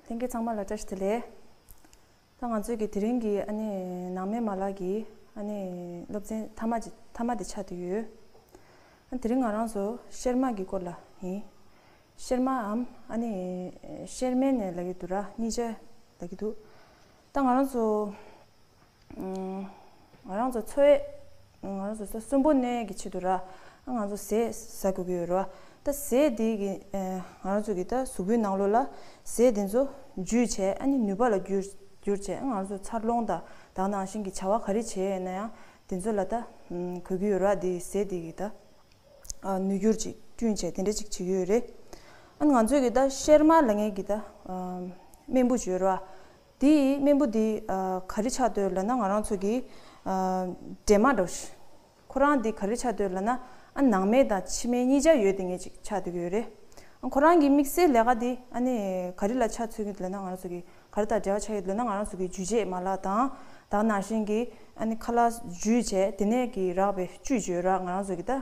ལྷན་རྒྱས་ཚང་མ་ལ་བཀྲ་ཤིས་བདེ་ལེགས། ད་ང་ཚོས་ཀྱི་དེ་རིང་གི་ཨ་ནེ་ནང་མའི་མ་ལག་གི་ཨ་ནེ་སློབ་ཚན་མཐའ་མ་མཐའ་མ་དེ་ཆགས་བསྡད་ཡོད། དེ་རིང་ང་རང་ཚོ་གཤེར་མ་གི་སྐོར་ལ་ཡིན། གཤེར་མ་འམ་ཨ་ནེ་གཤེར་མའི་ནས་ལ་གི་འདུག་ར་གཉིས་ཆ་ལ་གི་འདུག་ད་ང་རང་ཚོ། ང་རང་ཚོ་འཚོ་ཡས། ང་རང་ཚོ་ས་གསུམ་པོ་གནས་ཀྱི་ཆེད་དུ་ར། ང་རང་ཚོ་ཟས་ཟ་དགོས་ཀྱི་ཡོད་རོ། ད་ཟས་དེ་གི་ང་རང་ཚོ་གི་ད་གཟུགས་པོའི་ནང་ལོ་ལ་ཟས་དེ་ཚོ་འཇུས་བྱས་ཨ་ནི་ནུས་པ་ལ་བསྒྱུར་བསྒྱུར་བྱས་ང་རང་ཚོ་འཚར་ལོངས་ད་དག་ནང་བཞིན་གྱི་བྱ་བ་ག་རེ་བྱས་ཡོད་ན་ཡང་དེ་ཚོ་ལ་ད་གོས་ཀྱི་ཡོད་ར་དེ་ཟས་དེ་གི་ད་ནུས་བསྒྱུར་ཅིག་བསྐྲུན་བྱས་དེ་འདྲ་ཅིག་བྱེད་ཀྱི་ཡོད་རེད། ཨ་ནི་ང་ཚོ་གི་ད་ཤེར་མར་ལ་ངས་ཀྱི་ད་སྨན་བུ་ཞུ་ཡོད་ར། དེ་ཡིས་སྨན་བུ་འདི་ག་རི་ཆགས་འདོད་ལ་ན་ང་རང་ཚོ་གི་འདྲེ་མ་འདྲ། ཁོ་རང་འདི་ག་རི་ཆགས་འདོད་ལ་ན་ཨ་ནང་མེ་དང་ཕྱི་མེ་གཉིས་ཆ་ཡོད་དེ་ངེད་ཅིག་ཆགས་འདོད་ཀྱི་ཡོད་རེད། ཁོ་རང་གི་དམིགས་བསལ་ལས་ཀ་འདི་ཨ་ནི་ག་རི་ལ་ཆགས་ཚུལ་ཡོད་ལ་ན་ང་རང་ཚོ་གི་ག་རི་དང་འབྲེལ་བ་ཆགས་ཡོད་ལ་ན་ང་རང་ཚོ་གི་འཇུ་བྱེད་མ་ལག་དང་དག་ནང་བཞིན་གྱི་ཨ་ནི་ཁ་ལག་འཇུ་བྱེད་དེ་ནས་ཀྱི་རགས་པའི་བཅུད་བྱོས་རགས་ང་རང་ཚོ་གི་ད།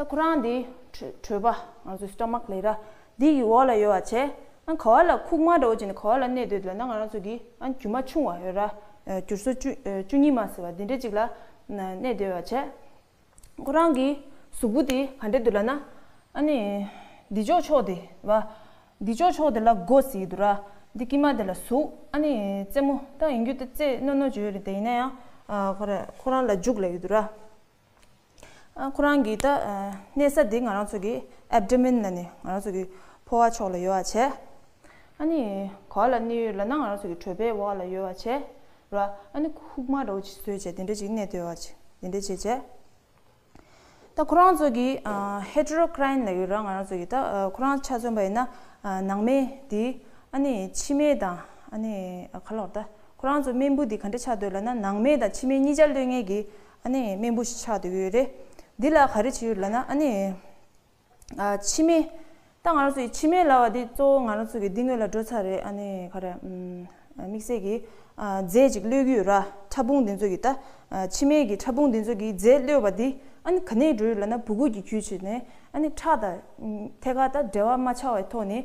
ད་ཁོ་རང་འདི་བྲོས་པ་ང་ཚོའི Stomach ལས་ར་འདི་ཡི་འོག་ལ་ཡོད་བ་བྱས་ཨང་ག་བ་ལ་ཁུག་མ་འདྲ་བོ་བྱས་ནས་ག་བ་ལ་གནས་སྡོད་འདོད་ན་ང་རང་ཚོ་གི་ཨང་རྒྱུ་མ་ཆུང་བ་ཡོད་ར་རྒྱུར་སོ་བཅུ་གཉིས་མ་ཟེར་བ་འདི་འདྲ་ཅིག་ལ་གནས་སྡོད་བ་བྱས་ཁོ་རང་གི་གཟུགས་པོ་དེ་ག་འདྲ་འདུག་ལ་ན་ཨ་ནི་འདི་ཅོག་ཆོག་དེ་བ་འདི་ཅོག་ཆོག་དེ་ལ་སྒོ་ཟེར་གྱི་འདུག་ར་འདི་དཀྱིལ་མ་དེ་ལ་གཟུགས་ཨ་ནི་རྩེ་མོ་ད་ཡིན་རྒྱུ་ད་རྩེ་རྣོ་རྣོ་བྱོས་ཡོད་རེད་ད་ཡིན་ན་ཡང་ཁོ་རང་ལ་འཇུག་ལ་ཡོད་འདུག་ར། ཁོ་རང་གིས་ད་གནས་ས་འདི་ང་རང་ཚོ་གི Abdomen ལ་ནི་ང་རང་ཚོ་གི་ཕོ་བ་ཕྱོགས་ལ་ཡོད་བ་བྱས། ཨ་ནི་གོ་ལ་ནི་ལ་ན་ང་རང་ཚོ་གི་གྲོད་པའི་འོག་ལ་ཡོད་བ་བྱས། རོ་ཨ་ནི་ཁུག་མ་རོ་བྱས་བཟོས་བྱས་དེ་འདྲ་ཅིག་གནས་སྡོད་བ་བྱས་དེ་འདྲ་བྱས་བྱས། ད་ཁོ་རང་ཚོ་གི Heterocrine ལ་ཡོད་ར་ང་རང་ཚོ་གི་ད་ཁོ་རང་ཆ་མཚོན་པ་ཡིན་ན་ནང་མེ་འདི་ཨ་ནི་ཕྱི་མེ་དང་ཨ་ནི་ག་ལོག་ད་ཁོ་རང་ཚོ་སྨན་བུ་འདི་ག་འདྲ་ཆགས་སྡོད་ལ་ན་ནང་མེ་དང་ཕྱི་མེ་གཉིས་ཆར་ལོན་ངེས་ཀྱི་ཨ་ནེ། སྨན་བུ་ཞིག་ཆགས་འདོད་ཡོད་རེད། འདི་ལ་ག་རེ་བྱེད་ཡོད་ལབ་ན་ཨ་ནེ། ཕྱི་སྨན། ད་ང་རང་ཚོ་ཡི་ཕྱི་སྨན་ལབ་པ་འདི་གཙོ་བོ་ང་རང་ཚོ་གི་སྡིག་དངོས་ལ་འགྲོ་ཚར་རེད་ཨ་ནེ། ག་རེ། དམིགས་བསལ་གྱི། རྫས་ཅིག་གློད་ཀྱི་ཡོད་ར། ཕྲ་ཕུང་འདི་ཚོ་གི་ད། ཕྱི་སྨན་གྱི་ཕྲ་ཕུང་འདི་ཚོ་གི་རྫས་གློད་པ་འདི་ཨ་ནེ་ག་ནས་འགྲོ་ཡོད་ལབ་ན་བུ་གུ་གྱི་ཁྱུ་བྱེད་ནས་ཨ་ནེ་ཁྲག་དང། ཐད་ཀར་ད་འབྲེལ་བ་མ་ཆགས་བའི་ཐོག་ནས་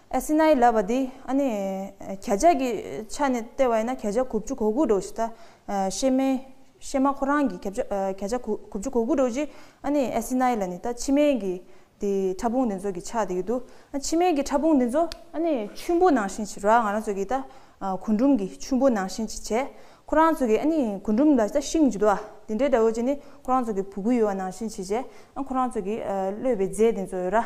ཨེ་སི་ནའི་ལབ་པ་འདི་ཨ་ནི་ཁྱེད་ཅག་གི་ཆ་ནས་ལྟས་བ་ཡིན་ན་ཁྱེད་ཅག་གུ་བཅུ་གོ་དགུ་འགྲོ་བཞི་ད་ཤེས་མེད་ཤེས་མ་ཁོ་རང་གི་ཁྱེད་ཅག་གུ་བཅུ་གོ་དགུ་འགྲོ་བཞི་ཨ་ནི་ཨེ་སི་ནའི་ལ་ནི་ད་ཕྱི་མའི་གི་དེ་ཕྲ་ཕུང་འདི་ཚོ་གི་ཆགས་དེ་གི་འདུག་ཨ་ཕྱི་མའི་གི་ཕྲ་ཕུང་འདི་ཚོ་ཨ་ནི་ཆུན་པོ་ནང་བཞིན་བྱེད་རོགས་ང་རང་ཚོ་གི་ད་གུ་འབྲུམ་གི་ཆུན་པོ་ནང་བཞིན་གྱི་བྱེད་ཁོ་རང་ཚོ་གི་ཨ་ནི་གུ་འབྲུམ་ལ་ད་ཤིང་བྱེད་དུ་ཨ་དེ་འདྲའི་དགྲ་བོ་ཅན་ནི་ཁོ་རང་ཚོ་གི་བུ་གུ་ཡོད་བ་ནང་བཞིན་བྱེད་བྱེད་ཨ་ཁོ་རང་ཚོ་གི་གློད་པའི་རྫས་འདི་ཚོ་ཡོད་ར།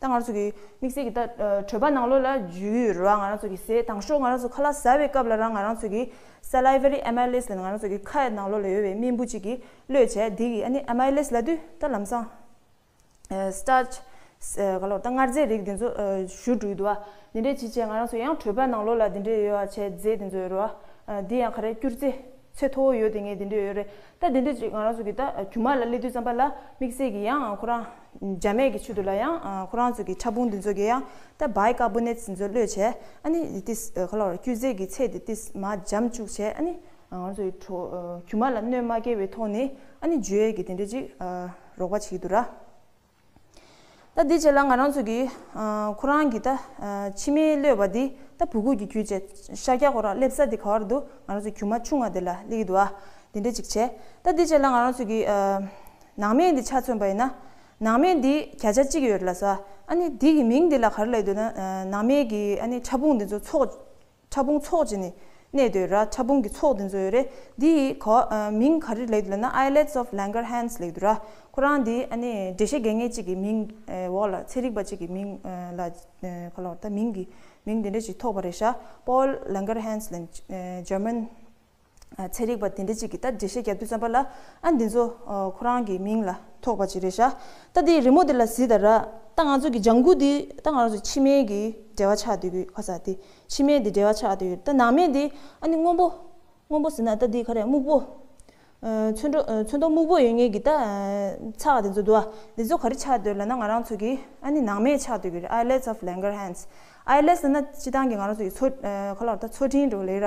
ད་ང་རང་ཚོ་གི་དམིགས་བསལ་གྱི་ད་གྲོད་པ་ནང་ལོགས་ལ་འཇུ་ཡུལ་རོ་ང་རང་ཚོ་གི་ཟས་དང་ཤོག་ང་རང་ཚོ་ཁ་ལག་ཟ་བའི་སྐབས་ལ་རང་ང་རང་ཚོ་གི Salivary Amylase ལ་ནི་ང་རང་ཚོ་གི་ཁ་ཡི་ནང་ལོགས་ལ་ཡོད་པའི་རྨེན་བུ་གཅིག་གིས་གློད་བྱས་དེ་གིས་ཨ་ནི Amylase ལ་དུས་ད་ལམ་སང Starch ག་ལོགས་ད་མངར་རྫས་རིགས་དེ་ཚོ་བཞུར་འགྲོ་གི་འདུག་བ་དེ་འདྲས་ཅི་བྱས་ང་རང་ཚོ་ཡང་གྲོད་པ་ནང་ལོགས་ལ་དེ་འདྲས་ཡོད་བ་བྱས་རྫས་དེ་ཚོ་ཡོད་རོ་ཨ་དེ་ཡང་ག་རེ་སྐྱུར་རྫས་ཚད་མཐོ་བོ་ཡོད་དེ་ངས་དེ་འདྲས་ཡོད་རེད་ད་དེ་འདྲས་ཅིག་ང་རང་ཚོ་གི་ད་རྒྱུ་མ་ལ་སླེབས་དུས་ཙམ་པ་ལ་དམིགས་བསལ་གྱི་ཡང་ཁོ་རང། རྒྱ་མེད་ཀྱི་ཆུ་དུ་ལ་ཡང་ཁོ་རང་ཚོ་གི་ཕྲ་ཕུང་འདི་ཚོ་གི་ཡང་ད་བའི་ཀར་པོ་ནེད་ཚི་ཚོ་བློས་བྱས་ཨ་ནི་དེ་ཏིས་ག་ལོར་ཀྱུ་ཟས་ཀྱི་ཚད་དེ་ཏིས་མ་འཇམ་བཅུག་བྱས་ཨ་ནི་ང་ཚོ་གི་ཁྲོ་ཁྱུ་མ་ལ་གནོད་མ་བསྐྱལ་བའི་ཐོག་ནས་ཨ་ནི་ཇུ་ཡེ་གི་དེ་འདྲ་ཅིག་རོགས་པ་བྱེད་ཀྱི་འདུག་ར། ད་དེ་བྱས་ལ་ང་རང་ཚོ་གི་ཁོ་རང་གི་ད་ཕྱི་མའི་བློས་བ་དེ་ད་བུ་གུ་གི་ཁྱུ་བྱས་ཤཱཀྱ་ཁོ་རང་སླེབས་ས་དེ་ག་བར་འདུག་ང་རང་ཚོ་ཁྱུ་མ་ཆུང་བ་དེ་ལ་སླེབས་ཀྱི་འདུག་ཨ་དེ་འདྲ་ཅིག་བྱས་ད་དེ་བྱས་ལ་ང་རང་ཚོ་གི། ནང་མེད་འདི་ཆ་མཚོན་པ་ཡིན་ན། ནང་མེད་འདིས་བརྒྱ་ཆ་གཅིག་ཡོད་རེད་ལ་ཟ། ཨ་ནི་འདི་གི་མིང་འདི་ལ་གར་ལས་འདོད་ན། ནང་མེད་ཀྱི་ཨ་ནི་ཕྲ་ཕུང་འདི་ཚོ་ཚོགས། ཕྲ་ཕུང་ཚོགས་ཀྱི་ནི་གནས་འདོད་ར་ཕྲ་ཕུང་གི་ཚོགས་འདི་ཚོ་ཡོད་རེད། འདི་ཡི་གོ། མིང་ག་རེ་ལས་འདོད་ན Islets of Langerhans ལས་འདོད་ར། ཁོ་རང་འདི་ཨ་ནི་འགྲེལ་བཤད་དགེ་བསྔལ་ཅིག་གི་མིང། འོག་ལ་ཚན་རིག་པ་ཅིག་གི་མིང་ལ། ག་ལོར་ད་མིང་གི་མིང་འདི་འདྲ་ཅིག་ཐོགས་པ་རེད་ཤག Paul Langerhans ལས། German། ཚན་རིག་པ་དེ་འདྲ་གཅིག་གིས་ད་འགྲེལ་བཤད་རྒྱབ་རྒྱུ་བརྩམས་པ་ལ་ཨ་འདི་ཚོ་ཁོ་རང་གི་མིང་ལ་ཐོགས་པ་ཅིག་རེད་ཤག་ད་འདི་རི་མོ་འདི་ལ་གཟིགས་ད་ར་ད་ང་ཚོ་གི་ལྗང་གུ་འདི་ད་ང་རང་ཚོ་ཕྱི་མའི་གི་འབྲེལ་བ་ཆགས་འདོད་གི་ཁ་ས་དེ་ཕྱི་མའི་འདི་འབྲེལ་བ་ཆགས་འདོད་ཡོད་རེད་ད་ནང་མའི་འདི་ཨ་འདི་སྔོན་པོ་སྔོན་པོ་ཟེར་ན་ད་འདི་ག་རེ་སྨུག་པོ་ཚོན་མདོག་ཚོན་མདོག་སྨུག་པོ་ཡོད་ངེས་གི་ད་ཚགས་འདི་ཚོ་འདུག་ཨ་འདི་ཚོ་ག་རེ་ཆགས་འདོད་ལ་ན་ང་རང་ཚོ་གི་ཨ་ནི་ནང་མས་ཆགས་འདོད་གི་རེད Islets of Langerhans Islets ཟེར་ན་སྤྱི་བཏང་གི་ང་རང་ཚོ་གི་མཚོ་ག་ལ་ར་ད་མཚོ་ཕྲིན་འགྲོ་ལེ་ར།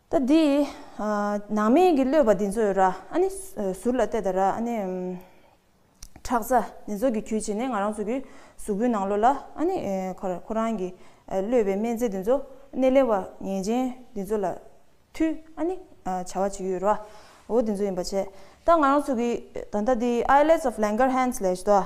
ད་འདི། ནང་མིང་གི་གློད་པ་འདི་ཚོས་ར་ཨ་ནི། ཟུར་ལ་བལྟས་ད་ར་ཨ་ནི། ཁྲག་རྩ་འདི་ཚོ་གི་གྱོད་བྱེད་ནི་ང་རང་ཚོ་གི་གཟུགས་པོའི་ནང་ལོ་ལ་ཨ་ནི། ཁོ་རང་གི་གློད་པའི་སྨན་རྫས་འདི་ཚོ་སྣེ་ལེན་བ་ངན་ཅན་འདི་ཚོ་ལ་ཐུ་ཨ་ནི། བྱ་བ་བྱེད་ཀྱི་ཡོད་ར་འོ་འདི་ཚོ་ཡིན་པ་བྱས་ད་ང་རང་ཚོ་གི་ད་ལྟ་འདི Islets of Langerhans ལས་ད།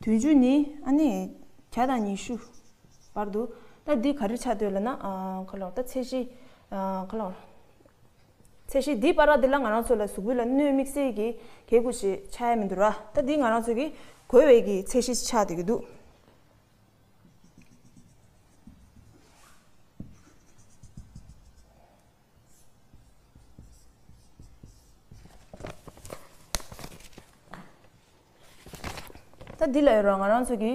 དུས་མཇུག་ནི་ཨ་ནི། གྱ་དང་ཉི་ཤུ། བར་དུ། ད་འདི་ག་རེ་ཆགས་འདོད་ལ་ན། ཁ་ལོ། ད་ཚད་གཞི། ཁ་ལོ། ཚད་གཞི་འདི་པར་ར་འདི་ལ་ང་རང་ཚོ་ལ་གཟུགས་བོད་ལ་གནོད་དམིགས་བསལ་གྱི་གས་དགུ་ཞེས་ཆགས་ཡ་མི་འདུག་ར་ད་འདི་ང་རང་ཚོ་གི་གོས་བས་ཀྱི་ཚད་གཞི་ཆགས་འདོད་ཀྱི་འདུག། ད་འདི་ལ་ཡོད་རང་ང་རང་ཚོ་གི།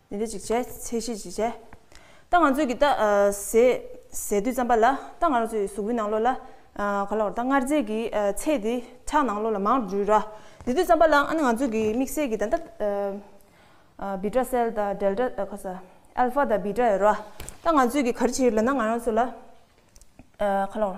ནི་ལྟ་ཅིག་བྱས། ཚེ་ཤེས་ཅིག་བྱས། ད་ང་ཚོས་ཀྱི་ད། ཟས། དུས་རྩམ་པ་ལ། ད་ང་རང་ཚོའི་གཟུགས་པོའི་ནང་ལོགས་ལ། ག་ལ་བར་ད་མངར་རྫས་ཀྱི། ཚད་དེ། ཁྲག་ནང་ལོགས་ལ་མང་རུ་ར། དེ་དུས་རྩམ་པ་ལ་ཨ་ནི་ང་ཚོས་ཀྱི་དམིགས་བསལ་གྱི་ད་ད། བི་ཏྲ་སེལ་ད་དལ་ཏྲ་ཨ་ཁ་ས། ཨལ་ཧྥ་ད་བི་ཏྲ་ཨེ་ར། ད་ང་ཚོས་ཀྱི་ག་རི་བྱེད་ཡོད་ལ་ན་ང་རང་ཚོ་ལ། ག་ལ་བར།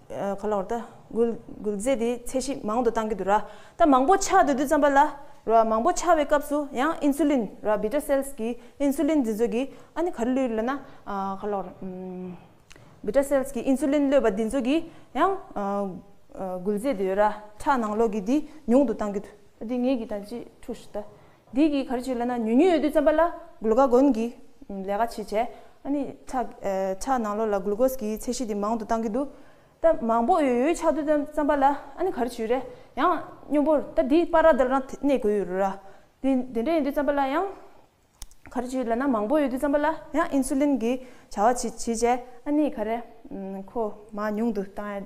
ག་ལ་བར་ད་གུལ་གུལ་རྫས་དེའི་ཚད་གཞི་མང་དུ་གཏང་གི་འདུག་ར་ད་མང་པོ་ཆགས་འདུག་དུས་ཙམ་པ་ལ་ར་མང་པོ་ཆགས་བའི་སྐབས་སུ་ཡང insulin ར beta cells གི insulin འདི་ཚོད་ཀྱི་ཨ་ནི་ག་རེ་ལུས་ལ་ན་ག་ལ་བར beta cells གི insulin གློད་པ་འདི་ཚོད་ཀྱི་ཡང་གུལ་རྫས་དེའི་ར་ཁྲག་ནང་ལོགས་ཀྱི་དེ་ཉུང་དུ་གཏང་གི་འདུག་དེ་ངེད་ཀྱི་ད་ཅི་ཐུགས་ཤི་ད་འདི་གིས་ག་རེ་བྱེད་ལ་ན་ཉུལ་ཉུལ་ཡོད་དུས་བརྩམས་པ་ལ་གླུ་ག་གོན་གྱི་ལས་ཀ་བྱེད་བྱས་ཨཱ་ནི། ཆ་ནང་ལོགས་ལ་གླུ་གོས་ཀྱི་ཚད་གཞི་དེ་མང་དུ་བཏང་གི་འདུག་ད་མང་པོ་ཡོད་ཡོད་ཆགས་དུས་བརྩམས་པ་ལ་ཨཱ་ནི་ག་རེ་བྱེད་རེད་ཡང་སྙོམས་པོར་ད་འདི་པར་ར་འདིར་རང་གནས་དགོས་ཡོད་རེད་ར་དེ་འདྲ་ཡིན་དུས་བརྩམས་པ་ལ་ཡང་ག་རེ་བྱེད་ལ་ན་མང་པོ་ཡོད་དུས་བརྩམས་པ་ལ་ཡང་ཨིན་སུ་ལིན་གྱི་བྱ་བ་བྱེད་བྱས་ཨཱ་ནི་ག་རེ་ཁོ་མ་ཉུང་དུ་བཏང་ཡ།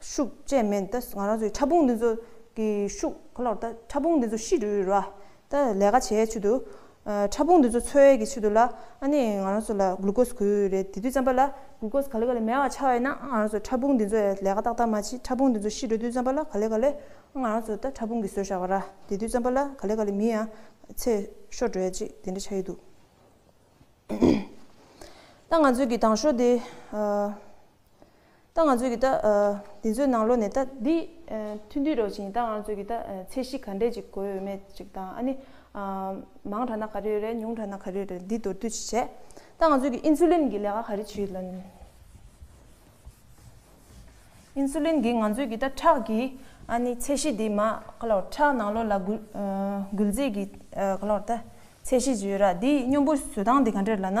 ཤུགས་བཅས་མེད་ད་ང་རང་ཚོའི་ཕྲ་ཕུང་འདི་ཚོ་གི་ཤུགས་གོ་ལོག་ད་ཕྲ་ཕུང་འདི་ཚོ་ཤི་རུལ་ར་ད་ལས་ཀ་བྱས་ཆུ་དུ་ཕྲ་ཕུང་འདི་ཚོ་འཚོལ་བའི་གི་ཆུ་དུ་ལ་ཨ་ནི་ང་རང་ཚོ་ལ་གླུ་གོས་གུ་རེ་དེ་དུས་རྩམ་པ་ལ་གུ་གོས་ག་ལེ་ག་ལེ་མེད་བ་ཆ་བས་ན་ཨ་ང་རང་ཚོ་ཕྲ་ཕུང་འདི་ཚོ་ཡ་ལས་ཀ་ཏག་ཏག་མ་བྱེད་ཕྲ་ཕུང་འདི་ཚོ་ཤི་རུལ་དུས་རྩམ་པ་ལ་ག་ལེ་ག་ལེ་ཨ་ང་རང་ཚོ་ད་ཕྲ་ཕུང་གི་ཟོས་བཞག་པ་ར་དེ་དུས་རྩམ་པ་ལ་ག་ལེ་ག་ལེ་མི་ཡང་ཚེ་ཤོར་འགྲོ་ཡ་ཅིག་དེ་འདྲ་ཆ་ཡི་འདུག་ད་ང་ཚོའི་གི་ཏང་ཤོག་དེ། ད་ང་ཚོས་ཀྱི་ད། འདི་ཚོའི་ནང་ལོ་ནས་ད། འདི། མཐུན་འདུས་རོགས་བྱིངས་ད་ང་ཚོས་ཀྱི་ད། ཚད་གཞི་ག་འདྲས་ཅིག་དགོས་ཡོད་མེད་ཅིག་དང་ཨ་ནི། མང་དྲགས་ན་ག་རེ་ཡོད་རེད་ཉུང་དྲགས་ན་ག་རེ་ཡོད་རེད་འདི་མདོར་བསྡུས་ཅིག་བྱས། ད་ང་ཚོས་ཀྱི Insulin གྱི་ལས་ཀ་ག་རེ་བྱེད་ཡོད་ལ། Insulin གྱིས་ང་ཚོས་ཀྱི་ད་ཁྲག་གི་ཨ་ནི་ཚད་གཞི་འདི་མ་ག་ལོར་ཁྲག་ནང་ལོ་ལ་འགུལ། འགུལ་རྫས་ཀྱི་ག་ལོར་ད་ཚད་གཞི་ཅིག་ཡོད་ར་འདིའི་སྙོམས་པོའི་བཟོད་སྟངས་འདི་ག་འདྲས་རེད་ལ་ན།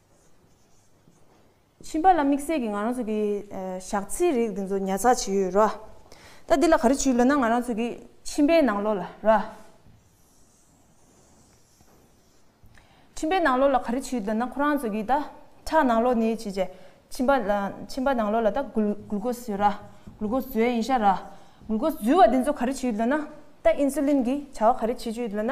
ཕྱིན་པ་ལ་དམིགས་བསལ་གྱི་ང་རང་ཚོ་གི་ཞག་ཚིལ་རིགས་དེ་ཚོ་ཉར་ཚགས་བྱས་ཡོད་རོ། ད་འདི་ལ་ག་རེ་བྱེད་ལོས་ན་ང་རང་ཚོ་གི་ཕྱིན་པའི་ནང་ལོགས་ལ་རོ། ཕྱིན་པའི་ནང་ལོགས་ལ་ག་རེ་བྱེད་ལོས་ན་ཁོ་རང་ཚོ་གི་ད་ཁྲག་ནང་ལོགས་ནས་བྱས་རྗེས་ཕྱིན་པ་ལ་ཕྱིན་པ་ནང་ལོགས་ལ་ད་གུ་གུལ་ཀོ་སི་རོ། གུལ་ཀོ་སི་ཡིན་ཤག་རོ། གུལ་ཀོ་སི་འཛུལ་བ་དེ་ཚོ་ག་རེ་བྱེད་ལོས་ན་ད་ཨིན་སུ་ལིན་གྱི་བྱ་བ་ག་རེ་བྱེད་བྱེད་ལོས་ན་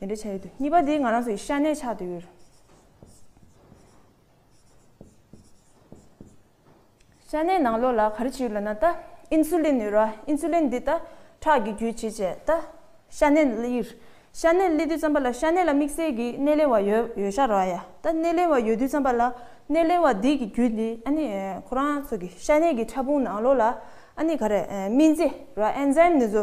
དེ་འདྲའི་ཆ་ཡོད་དུས་གཉིས་པ་དེ་ང་རང་ཚོ་ཡི་ཤ་གནས་ཆགས་དུས། ཤ་གནས་ནང་ལོགས་ལ་ག་རེ་བྱེད་ཡོད་ལབ་ན་ད་ཨིན་སུ་ལིན་ནུས་ར་ཨིན་སུ་ལིན་འདི་ད་ཁྲག་གི་རྒྱུད་བྱེད་བྱས་ད་ཤ་གནས་གླིར། ཤ་གནས་གླི་དུས་ཙམ་པ་ལ་ཤ་གནས་ལ་དམིགས་བསལ་གྱི་གནས་ལེན་བ་ཡོད་ཡོད་ཤ་ར་ཡ་ད་གནས་ལེན་བ་ཡོད་དུས་ཙམ་པ་ལ་གནས་ལེན་བ་འདི་གི་རྒྱུད་འདི་ཨ་ནི་ཁོ་རང་ཚོ་གི་ཤ་གནས་གི་ཕྲ་ཕུང་ནང་ལོགས་ལ་ཨ་ནི་ག་རེ་སྨིན་རྩེ་ར Enzyme ནུས་བཟོ་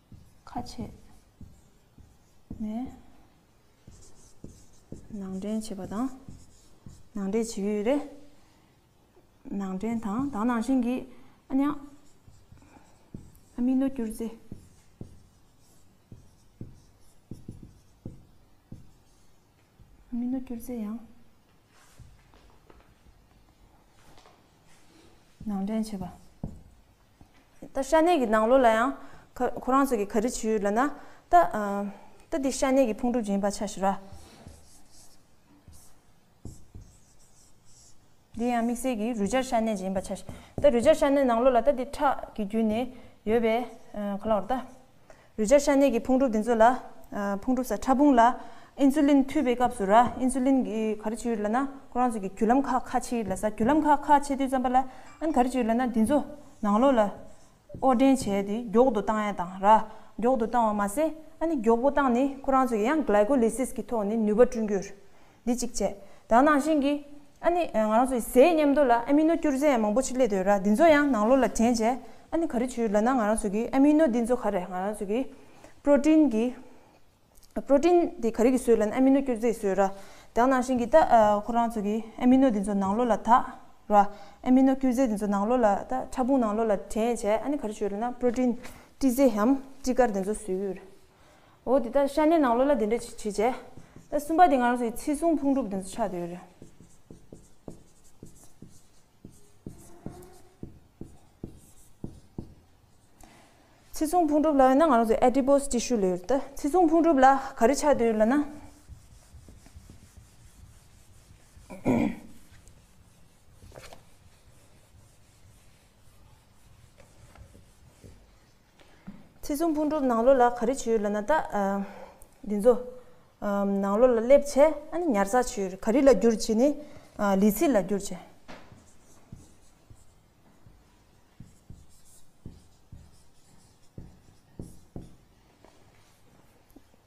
ཁ་ཕྱེ་ནས་ནང་འདྲེན་བྱེད་པ་དང། ནང་འདྲེན་བྱེད་ཡུལ་རེ་ནང་འདྲེན་དང་དང་ནང་བཞིན་གྱིས་ཨ་མྱང་ཨ་མི་ནོ་སྐྱུར་རྫས། ཨ་མི་ནོ་སྐྱུར་རྫས་ཡང། ནང་འདྲེན་བྱེད་པ། ད་ཤ་གནད་ཀྱི་ནང་ལོ་ལ་ཡང། ཁོ་རང་ཚོ་གི་ག་རི་བྱེད་ཡུལ་ལ་ན། ད། ད་འདི་ཤ་གནད་ཀྱི་ཕུང་གྲུབ་ཀྱི་ཡིན་པ་ཆ་ཞུ་ར། འདི་ཡང་དམིགས་བསལ་གྱི་རུས་སྦྱར་ཤ་གནད་ཅིག་ཡིན་པ་ཆ་ཞུ། ད་རུས་སྦྱར་ཤ་གནད་ནང་ལོ་ལ་ད་འདི་ཁྲག་གི་རྒྱུད་ནས་ཡོད་པས། གོ་སླ་བར་ད། རུས་སྦྱར་ཤ་གནད་ཀྱི་ཕུང་གྲུབ་འདི་ཚོ་ལ། ཕུང་གྲུབ་ས་ཕྲ་ཕུང་ལ། Insulin འཐུས་པའི་སྐབས་སུ་ར Insulin གི་ག་རེ་བྱེད་ཡོད་ལ་ན། ཁོ་རང་ཚོ་གི་རྒྱུ་ལམ་ཁག་ཁ་ཕྱེ་ཡོད་ལ་ས་རྒྱུ་ལམ་ཁག་ཁ་ཕྱེ་དུས་ཙམ་པ་ལ་ཨན་ག་རེ་བྱེད་ཡོད་ལ་ན་འདི་ཚོ་ནང་ལོགས་ལ། ཨོ་སྐྲན་བྱས་ཏེ་མགྱོགས་དུ་བཏང་ཡ་དང་ར་མགྱོགས་དུ་བཏང་བ་མ་ཟད་ཨ་ནི་མགྱོགས་པོ་བཏང་ནས་ཁོ་རང་ཚོ་གི་ཡང Glycolysis གི་ཐོག་ནས་ནུས་པ་བསྐྲུན་རྒྱུར། འདི་གཅིག་བྱས། དང་ནང་བཞིན་གྱི། ཨ་ནི། ང་རང་ཚོ་ཡི་ཟའི་ཉམས་རྟོགས་ལ་ཨ་མི་ནོ་སྐྱུར་རྫས་ཡང་མང་པོ་ཞིག་སླེད་འདོད་ར་འདི་ཚོ་ཡང་ནང་ལོགས་ལ་དྲན་བྱས། ཨ་ནི་ག་རེ་བྱུས་ལ་ན་ང་རང་ཚོ་གི་ཨ་མི་ནོ་འདི་ཚོ་ག་རེ་ང་རང་ཚོ་གི། Protein། གི། Protein། དེ་ག་རེ་གི་ཟོས་ལ་ན་ཨ་མི་ནོ་སྐྱུར་རྫས་ཀྱི་ཟོས་ར། དང་ནང་བཞིན་གྱི་ད་ཁོ་རང་ཚོ་གི་ཨ་མི་ནོ་འདི་ཚོ་ནང་ལོགས་ལ་དག་ར། ཨ་མི་ནོ་སྐྱུར་རྫས་འདི་ཚོ་ནང་ལོགས་ལ་ད་ཕྲ་ཕུང་ནང་ལོགས་ལ་དྲན་བྱས་ཨ་ནི་ག་རེ་བྱུས་ལ་ན Protein། སྤྲི་ཟས་ཧམ་སྤྲི་དཀར་འདི་ཚོ་ཟོས་ཡོད། འོ་དེ་ད་ཤ་ནའི་ནང་ལོགས་ལ་དེ་འདྲ་བྱེད་བྱེད་བྱས། ད་གསུམ་པ་དེ་ང་རང་ཚོ་ཡི་ཚིག་ཟུང་ཕུང་གྲུབ་དེ་ཚོ་ཆགས་དེ་ཡོད་རེད། ཚིག་ཟུང་ཕུང་གྲུབ་ལ་ཡོད་ན་ང་རང་ཚོ Adipose Tissue ལ་ཡོད། ད་ཚིག་ཟུང་ཕུང་གྲུབ་ལ་ག་རེ་ཆགས་དེ་ཡོད་ལ་ན། ཚེ་གཟུངས་ཕུང་གྲུབ་ནང་ལོ་ལ་ག་རེ་བྱོས་ལ་ན་ད། འདི་ཚོ། ནང་ལོ་ལ་སླེབས་བྱས་ཨ་ནི་ཉར་ས་བྱོས་ག་རི་ལ་བསྒྱུར་བྱས་ནི། ལི་ཚི་ལ་བསྒྱུར་བྱས།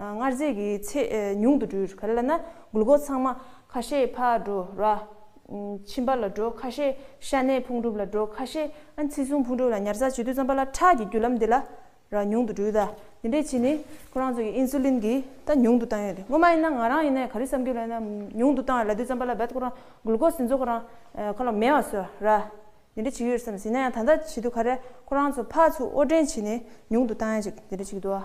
སྔར་རྗེས་ཀྱི་ཚེ་ཉུང་དུ་འགྲོའི་བར་ལ་ན་དགུ་ལྐོག་ཚང་མ། ཁ་ཤས་ཕ་འགྲོ་ར། ཁྱིམ་པ་ལ་འགྲོ་ཁ་ཤས་ཤ་གནད་ཕུང་གྲུབ་ལ་འགྲོ་ཁ་ཤས། ཚེ་གཟུངས་ཕུང་གྲུབ་ལ་ཉར་ཚགས་བྱེད་དུས་རྩམ་པ་ལ་ཁྲག་གི་རྒྱུ་ལམ་དེ་ལ་ར་ཉུང་དུ་འགྲོའི་ར། འདི་འདྲའི་ཕྱིས་ནི་ཁོ་རང་ཚོ་གི Insulin གི་རྟ་ཉུང་དུ་བཏང་ཡོད་དེ་སྔོན་མ་ཡིན་ན་ང་རང་ཡིན་ན་ག་རི་བསམ་གྱི་ལོན་ན་ཉུང་དུ་བཏང་བ་ལ་དུས་རྩམ་པ་ལ་བད་ཁོ་རང་དགུ་ལྐོག་ཟིན་ཚོ་ཁོ་རང་ཁ་ལོ་མེ་བ་སོ་ར། འདི་འདྲ་བྱེད་ཀྱི་ཡོད་བསམ་ཟིན་ན་ཡང་ད་ལྟ་བྱེད་དུས་ག་རེ་ཁོ་རང་ཚོ་ཕ་ཚུ་ཨོ་བྲན་བྱེད་ནས་ཉུང་དུ་བཏང་ཡ་ཅིག་འདི་འདྲ་བྱེད་ཀྱི་འདུག་བ།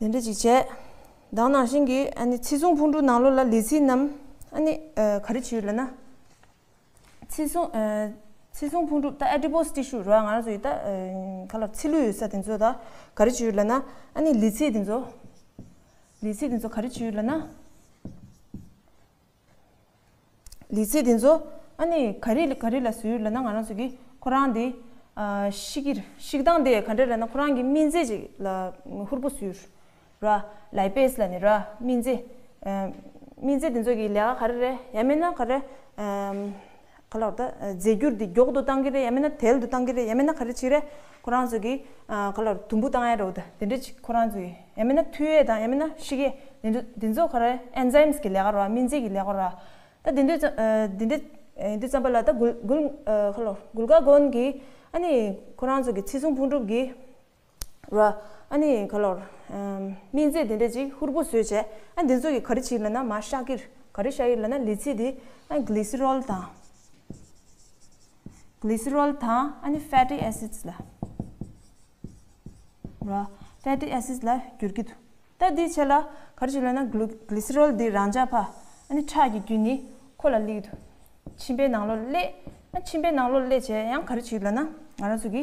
ལས་འབྲས་ཅིག་བྱས། བདག་ནང་བཞིན་གྱི་ཨ་ནི་ཚིག་བཟུང་ཕུང་དཀྲུག་ནང་ལོག་ལ་ལས་ཚིག་རྣམས་ཨ་ནི་ག་རེ་བྱེད་ལ་ན། ཚིག་བཟུང་ཚིག་བཟུང་ཕུང་དཀྲུག་ད་ཨ་ཏི་པོ་སི་ཏི་ཤུ་རོ་ང་རང་ཚོ་ཡི་ད་ག་ལ་ཚིག་ལུས་ཡོད་ས་དེ་ཚོ་ད་ག་རེ་བྱེད་ལ་ན་ཨ་ནི་ལས་ཚིག་དེ་ཚོ་ལས་ཚིག་དེ་ཚོ་ག་རེ་བྱེད་ལ་ན། ལས་ཚེ་འདི་ཚོ་ཨ་ནི་ག་རེ་ག་རེ་ལ་ཟོས་ཡོད་ལབ་ན་ང་རང་ཚོ་གིས་ཁོ་རང་དེ་ཤི་གིར་ཤིག་བཏང་སྟེ་ག་འདྲ་རེད་ན་ཁོ་རང་གི་སྨིན་རྫས་ཅིག་ལ་ཧུར་པོ་ཟོས་ར་ལའི་པེས་ལ་ནི་ར་སྨིན་རྫས་སྨིན་རྫས་འདི་ཚོ་གི་ལས་ཀ་ག་རེ་རེད་ཡ་མེད་ན་ག་རེ། ག་ལ་རེད། རྫས་འགྱུར་འདི་མགྱོགས་དུ་གཏང་གི་རེད་ཡ་མེད་ན་དལ་དུ་གཏང་གི་རེད་ཡ་མེད་ན་ག་རེ་བྱེད་རེད། ཁོ་རང་ཚོ་གི་ག་ལ་རེད་དུམ་བུ་གཏང་ཡ་རེད་དེ་འདྲ་ཅིག་ཁོ་རང་ཚོ་གི་ཡ་མེད་ན་མཐུད་ཡས་དང་ཡ་མེད་ན་བཤིག་ཡས་དེ་འདྲ་དེ་ཚོ་ག་རེ Enzymes གི་ལས་ཀ་རོ་སྨིན་རྫས་ཀྱི་ལས་ཀ་རོ། ད་དེ་འདྲ་དེ་འདྲ་དུས་ཙམ་པ་ལ་ད་གུ་གུ་ག་ལ་རེད་གུ་ག་གོན་གི་ཨ་ནི་ཁོ་རང་ཚོ་གི་ཚེ་སྲུང་ཕུང་གྲུབ་ཀྱི། ར། ཨ་ནི་ག་ལོར། སྨིན་རྫས་དེ་འདྲས་ཅིག་ཧུར་པོ་བཟོས་བྱས། ཨ་འདི་ཚོ་ཡི་ག་རི་ཆིར་ལ་ན་མ་ཤ་ཀིར། ག་རི་ཤ་ཡིར་ལ་ན་ལི་ཚི་དི། ཨ་གླི་སི་རོལ་དང། གླི་སི་རོལ་དང་ཨ་ནི་ཧྥེ་ཏི་ཨེ་སིས་ལ། ར། ཧྥེ་ཏི་ཨེ་སིས་ལ་འགྱུར་གི་འདུག་ད་དེའི་ཆེད་ལ་ག་རི་ཆིར་ལ་ན་གླུ་གླི་སི་རོལ་དི་རང་འཇགས་ཕ། ཨ་ནི་ཁྲག་གི་རྒྱུན་ནི་ཁོ་ལ་གླིག་དུ། མཆིན་པའི་ནང་ལོ་གླེ། ཨ་མཆིན་པའི་ནང་ལོ་གླེ་བྱས་ཡང་ག་རི་ཆིར་ལ་ན་ང་རང་ཚོ་གི།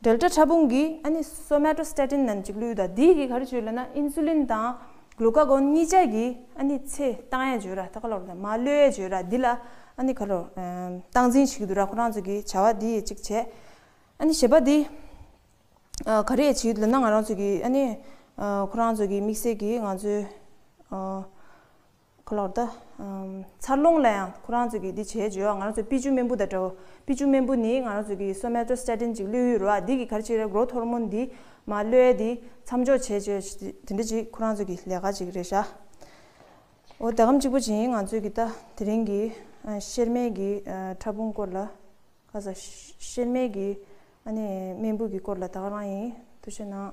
འབྲེལ་སྒྲ་ཕྲ་ཕུང་གིས་ཨ་ནི Somatostatin ནམ་གཅིག་ལུས་དང་དེའི་གི་གར་བརྗོད་ལ་ན Insulin དང Glucagon གཉིས་ཆ་གི་ཨ་ནི་ཚེ་ཏང་ཡན་བརྗོད་ར་ད་ག་ལོར་ན་མ་ལོས་ཡན་བརྗོད་ར་འདི་ལ་ཨ་ནི་ག་ལོར་སྟངས་འཛིན་བྱེད་ཀྱི་འདུག་ར་ཁོ་རང་ཚོ་གི་བྱ་བ་འདི་ཡི་གཅིག་བྱས་ཨ་ནི་བྱེད་པ་འདི་ག་རེ་ཡི་བྱེད་ཀྱི་འདུག་ལ་ན་ང་རང་ཚོ་གི་ཨ་ནི་ཁོ་རང་ཚོ་གི་དམིགས་བསལ་གི་ང་ཚོའི། ག་ལོར་ད། འཚར་ལོངས་ལ་ཡང་ཁོ་རང་ཚོས་ཀྱིས་འདི་བྱས་བྱས་བ་ང་རང་ཚོས་པི་ཅུ་སྨན་བུ་དང་འདྲ་བོ། པི་ཅུ་སྨན་བུ་ནི་ང་རང་ཚོས་ཀྱིས་སོ་མལ་ཏོ་སི་ཏྲ་ཏིན་གཅིག་བླུད་ཡོད་རུང་བ་འདི་གིས་གར་ཅིག་རེ་སྒོ་ཐོར་མོ་འདི་མ་བླུད་དེ་མཚམས་འཇོག་བྱས་བྱས་བ་དེ་འདྲ་ཅིག་ཁོ་རང་ཚོས་ཀྱིས་ལས་ཀ་ཅིག་རེ་བྱ་འོ་ད་གམ་གཅིག་པོ་བྱིན་ང་ཚོས་ཀྱིས་ད་དེ་རིང་གི་གཤེར་རྨེལ་གྱི་ཕྲ་ཕུང་སྐོར་ལ་ཁ་ས་གཤེར་རྨེལ་གྱི་ཨ་ནེ་སྨན་བུ་གྱི་སྐོར་ལ་ད་ག་རང་ཡིན་ཐུགས་ཆེ་གནང།